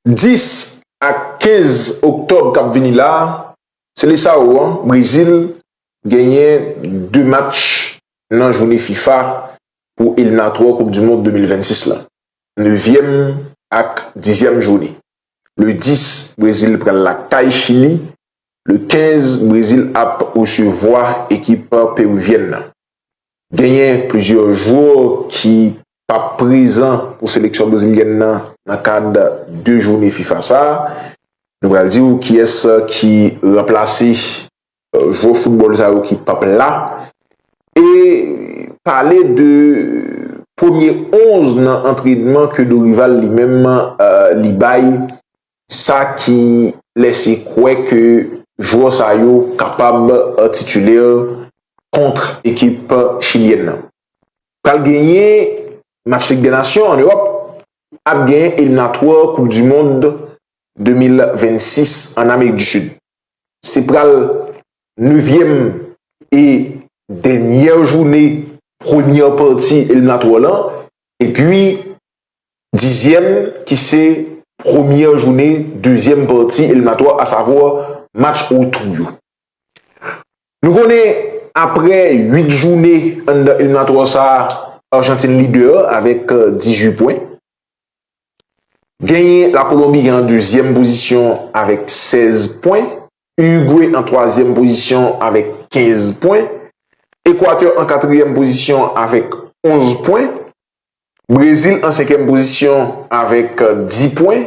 10 ak 15 oktòb k ap vini la, Seleçao an, Brezil, genyen 2 match nan joune fifa pou eliminatwa koup du mond 2026 la, nevyèm ak dizyèm joune. Le 10, Brezil pral lakay Chili, le 15, Brezil ap resevwa ekip peruvyèn nan. Genyen plizyè jwè ki pap prezan pou seleksyon brezilyèn nan nan kad 2 joune fifa sa, nou pral di ou kiyès ki ranplase jwè foutbòl sa yo ki pap la e pale de premye 11 nan antrenman ke Dorival li menm li bay sa ki lèse kwè ke jwè sa yo kapab titulè kont ekip chilyèn nan. Pral genyen match lig dè nasyon an Ewòp, ap genyen eliminatwa koup du mond 2026 an Amerik du Sud. Se pral nevyèm e dènyè joune premyè pati eliminatwa lan epi dizyèm ki se premyè joune dezyèm pati eliminatwa asavwa match retou yo. Nou konnen aprè 8 joune anndan eliminatwa sa, Arjantin lidè avèk 18 pwen. Genyen la Kolonbi gen an dezyèm pozisyon avèk 16 pwen, Urigwe an twazyèm pozisyon avèk 15 pwen, Ekwatè an katriyèm pozisyon avèk 11 pwen, Brezil an senkyèm pozisyon avèk 10 pwen,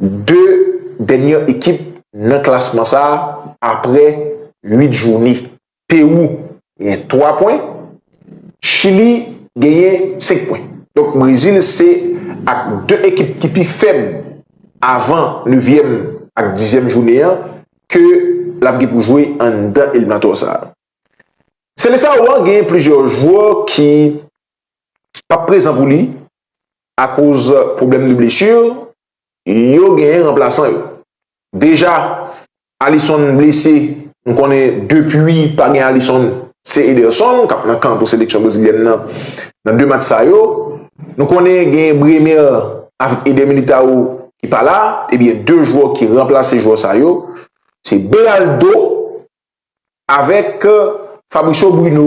2 dènyè ekip nan klasman sa a aprè 8 joune. Pewou gen 3 pwen, Chili genyen 5 pwen. Donk Brezil se ak 2 ekip ki pi fèb avan nevyèm ak dizyèm joune an ke l ap gen pou jwe anndan eliminatwa sa a. Selesawo an genyen plizyè jwè ki p ap prezan pou li Akoz pwoblèm de blesu, yo genyen ranplasan yo. Deja, Alisson blese, nou konnen depi pa gen Alisson, se Ederson k ap nan kan pou seleksyon brezilyèn nan nan 2 match sa yo. Nou konnen genyen Brener avèk Eder Militao ki pa la, ebyen 2 jwè ki ranplase jwè sa yo, se Beraldo avèk Fabricio Bruno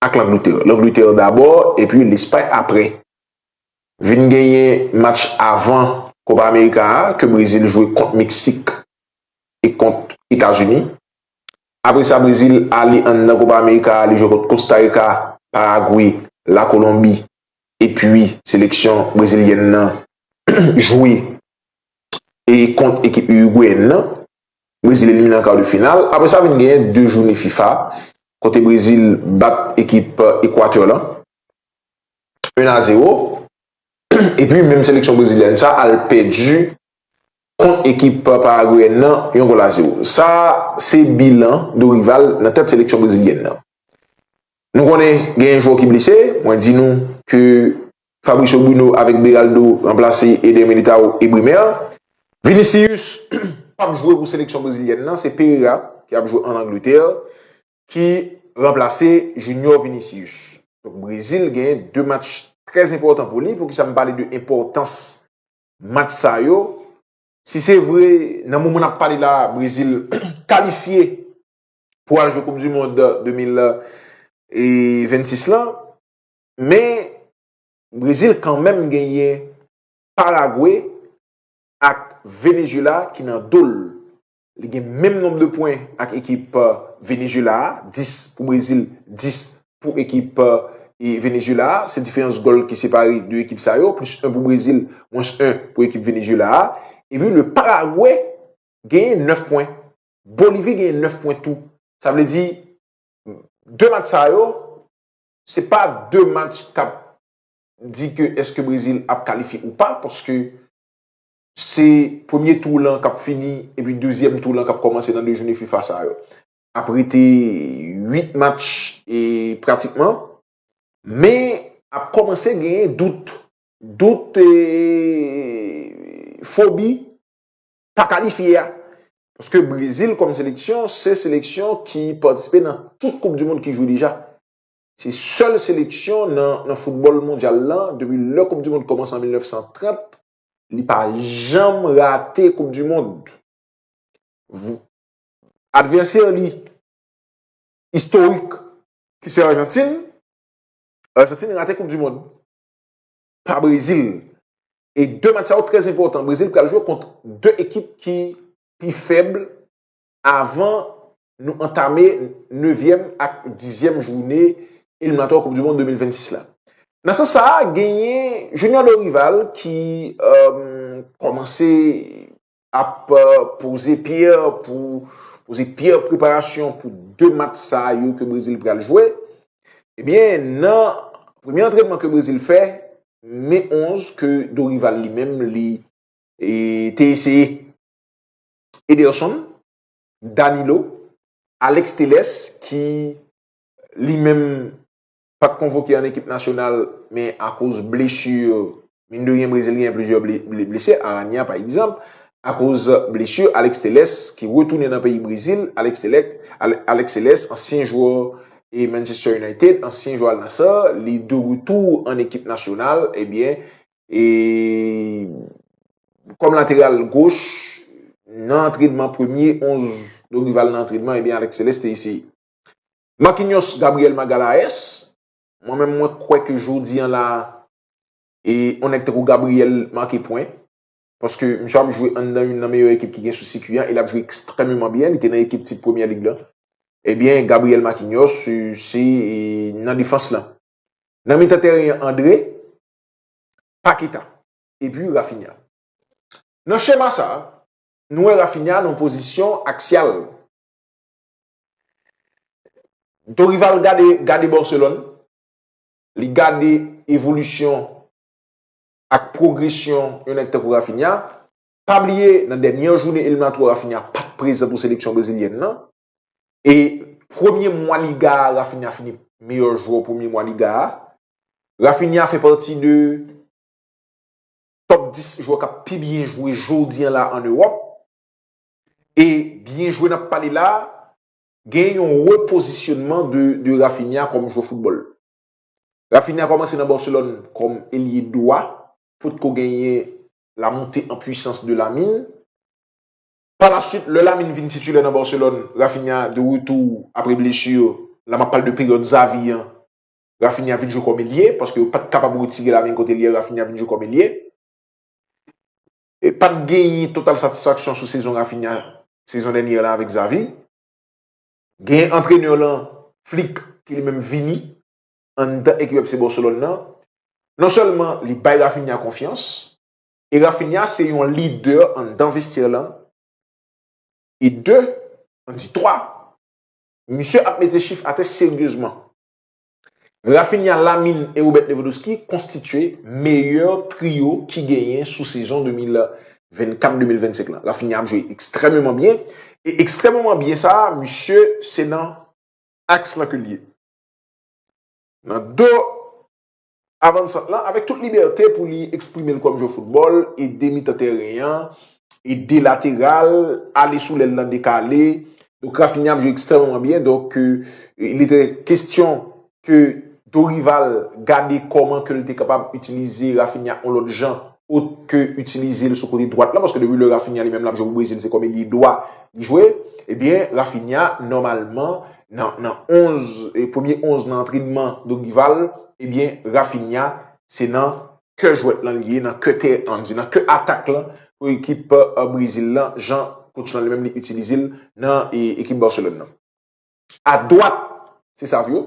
ak Langletè. Langletè dabò epi Lespay apre. Vin genyen match avan Kopa Amerika a ke Brezil jwe kont Meksik e kont Etazini. Apre sa Brezil ale anndan Kopa Amerika a li jwe kont Kostarika, Paragwe, La Kolonbi epi seleksyon brezilyèn nan jwe kont ekip Irigweyèn nan. Brezil elimine an kar de final. Apre sa vin genyen 2 joune fifa kote Brezil bat ekip Equateur lan 1 a 0 epi menm seleksyon brezilyèn sa al pèdi kont ekip paragweyèn nan yon gòl a 0. Sa se bilan Dorival nan tèt seleksyon brezilyèn nan. Nou konnen genyen jwè ki blese, mwen di nou ke Fabricio Bruno avèk Beraldo ranplase Eder Militao e Brimer. Vinicius pap jwe pou seleksyon brezilyèn nan, se Pereira ki ap jwe an Angletè ki ranplase Junior Vinicius. Donk Brezil gen 2 match trè enpòtan pou li, poukisa m pale de enpòtans match sa yo, si se vre nan moman n ap pale la Brezil kalifye pou al jwe koup di mond 2026 lan, Men, Brezil kanmenm genyen Paraguay ak Venezuela ki nan do l. Li gen menm nonb de pwen ak ekip Venezuela a, 10 pou Brezil, 10 pou ekip Venezuela a. Se diferans gòl ki separe 2 ekip sa yo, plis 1 pou Brezil, mwens 1 pou ekip Venezuela a. E pi le Paraguay genyen 9 pwen. Bolivi genyen 9 pwen tou. Sa vle di, 2 match sa yo, Se pa 2 match kap di ke eske Brezil ap kalifye ou pa paske se premye tou lan kap fini epi dezyèm tou lan kap kòmanse nan 2 joune fifa sa yo. Ap rete 8 match pratikman men ap kòmanse genyen dout, dout e fobi pa kalifye a. Paske Brezil kòm seleksyon, se seleksyon ki patisipe nan tout koup di mond ki jwe deja. Se sèl seleksyon nan foutbòl mondyal lan, depi lè koup di mond kòmanse an 1930, li pa janm rate koup di mond. Advèsè li istorik ki se Arjantin, Arjantin rate koup di mond. pa Brezil. E 2 match sa yo trè enpòtan. Brezil pral jwe kont 2 ekip ki pi fèb avan nou antame 9 èm ak 10 èm joune eliminatò koup du mond 2026 la. Nan sans sa a genyen Junior Dorival ki kòmanse ap poze pyè pou poze pyè preparasyon pou 2 match sa yo ke Brezil pral jwe. Ebyen nan premye antrenman ke Brezil fè me 11 ke Dorival li menm li te eseye Ederson, Danilo, Alex Teles ki li menm pat konvoke an ekip nasyonal men akoz blesu, min de ryen Brezil genyen plizyè blese, Aranya pa egzanp, akoz blesu Alex Telles ki retounen nan peyi Brezil, Alex Telles ansyen jwè e Manchester United, ansyen jwè Al Nassr, li de retou an ekip nasyonal, ebyen e kòm lateral goch nan antrenman premye 11 Dorival nan antrenman ebyen Alex Telles te eseye. Marquinhos Gabriel Magalhaes, Mwen menm mwen kwè ke jodi an la e yon nèg tankou Gabriel make pwen. Paske misye ap jwe anndan youn nan meyè ekip ki gen sou sikwi an e l ap jwe ekstrèmeman byen. Li te nan ekip tip Premyè Lig lan. Ebyen Gabriel Marquinhos se nan defans lan. Nan mitan tèren an André, Paqueta epi Raphinha. Nan chema sa, nou wè Raphinha nan yon pozisyon aksyal. Dorival gade Barcelone, li gade evolisyon ak pwogresyon yon nèk tankou Rafinha, pa bliye nan dènye jounen eliminatwa Rafinha pat prezan pou seleksyon brezilyèn nan, e premye mwa liga a Rafinha fini meyè jwè premye mwa liga a, Rafinha fè pati de top 10 jwè kap pi byen jwe jodi an la an Ewòp. E byen jwe nap pale la, gen yon repozisyonman de Raphinha kòm jwè foutbòl. Raphinha kòmanse nan Barcelone kòm elye dwa, potko genyen la monte an pwisans de Lamine. Pa la swit, lè Lamine vin titulè nan Barcelone, Raphinha de retou apre blesu, la map pale de peryòd Xavi an, Raphinha vin jwe kòm elye, paske yo pat kapab retire Lamine kot elye, Raphinha vin jwe kòm elye. pat genyen total satisfaksyon sou sezon Raphinha sezon dènyè la avèk Xavi. Genyen antrenè lan, Flick, ki li menm vini anndan ekip FC Barcelone nan. Non sèlman li bay Raphinha konfyans, e Raphinha se yon lidè anndan vestyè lan, e 2, an di 3, misye ap mete chif atè seryezman. Raphinha, Lamine e Robert Lewandowski konstitye meyè trio ki genyen sou sezon 2024-2025 lan. Raphinha ap jwe ekstrèmeman byen e ekstrèmeman byen sa a misye se nan aks lan ke l ye. Nan do Avansan lan, avèk tout libète pou li eksprime l kòm jwè foutbòl, ede mitan tèren an, ede lateral, ale sou lèl lan dekale. Donk Raphinha ap jwe ekstrèmeman byen. Donk il etè kestyon ke Dorival gade kòman ke l te kapab itilize Raphinha yon lòt jan ot ke itilize l sou kote dwat la, paske depi lè Raphinha li menm lap jwe pou Brezil se kòm elye dwa li jwe, ebyen Raphinha nòmalman nan 11, premye 11 nan antrenman Dorival, ebyen Raphinha se nan kè jwèt lan li ye, nan kè tè an, di nan kè atak lan pou ekip Brezil lan, jan kotch lan li menm li itilize l nan ekip Barcelone nan. A dwat se Savio.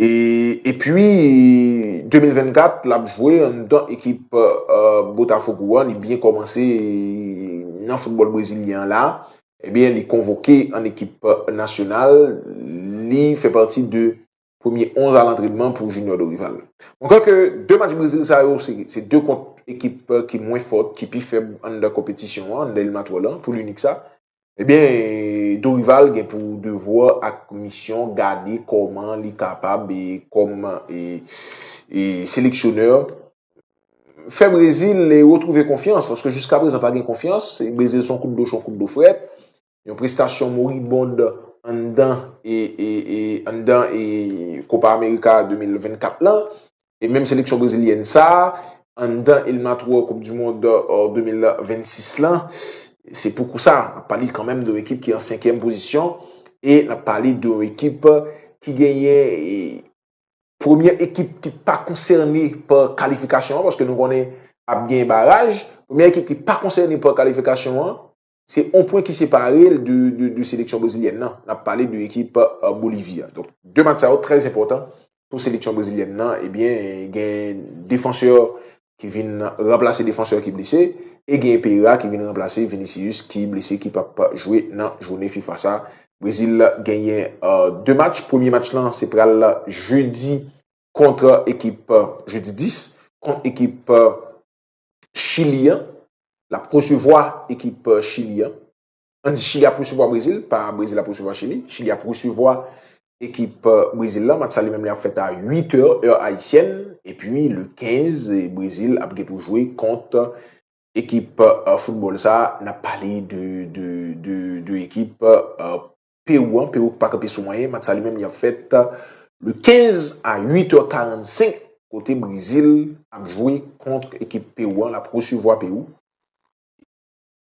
Epi 2024 lap jwe anndan ekip Botafogo an, li byen kòmanse nan foutbòl brezilyen an la. Ebyen li konvoke an ekip nasyonal, li fè pati de premye 11 a lantrenman pou Junior Dorival. Mwen kwè ke 2 match Brezil sa yo se 2 kont ekip ki mwen fòt, ki pi fèb anndan konpetisyon an, anndan eliminatwa lan, pou linik sa. Ebyen Dorival gen pou devwa ak misyon gade kòman li kapab e kòm e seleksyonè fè Brezil e retwouve konfyans paske jiska prezan pa gen konfyans e Brezil son kout dlo cho kout dlo frèt. Yon prestasyon moribond anndan e anndan e Kopa Amerika 2024 lan E menm seleksyon brezilyèn sa, anndan eliminatwa koup du mond 2026 la, se pou kousa, nap pale kanmenm de yon ekip ki an senkyèm pozisyon, e nap pale de yon ekip ki genyen premye ekip ki pa konsène pa kalifikasyon an, paske nou konnen ap genyen baraj, premye ekip ki pa konsène pa kalifikasyon an, Se on pwen ki separe l de seleksyon brezilyèn nan. N ap pale de ekip Bolivi a. Donk, 2 match sa yo trè enpòtan pou seleksyon brezilyèn nan. Ebyen, gen defansè ki vin ranplase defansè ki blese e gen Pereira ki vin ranplase Vinicius ki blese ki p ap jwe nan joune fifa sa. Brezil genyen 2 match. Premye match lan se pral jedi kontra ekip, jedi 10, kont ekip. Chili an, l ap resevwa ekip Chili an. An di Chili ap resevwa Brezil, pa Brezil ap resevwa Chili. Chili ap resevwa ekip Brezil la. Match sa li menm li ap fèt a 8 è, è ayisyèn. E pi le 15, Brezil ap gen pou jwe kont ekip foutbòl sa. N ap pale de ekip Perou an, Perou ki pa kanpe sou mwayen, match sa li menm li ap fèt le 15 a 8 heures 45 kote Brezil ap jwe kont ekip Perou an, lap resevwa Perou.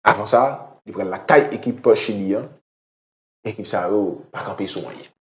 Avan sa, li pral lakay ekip Chili an, ekip sa yo pa kanpe sou anyen.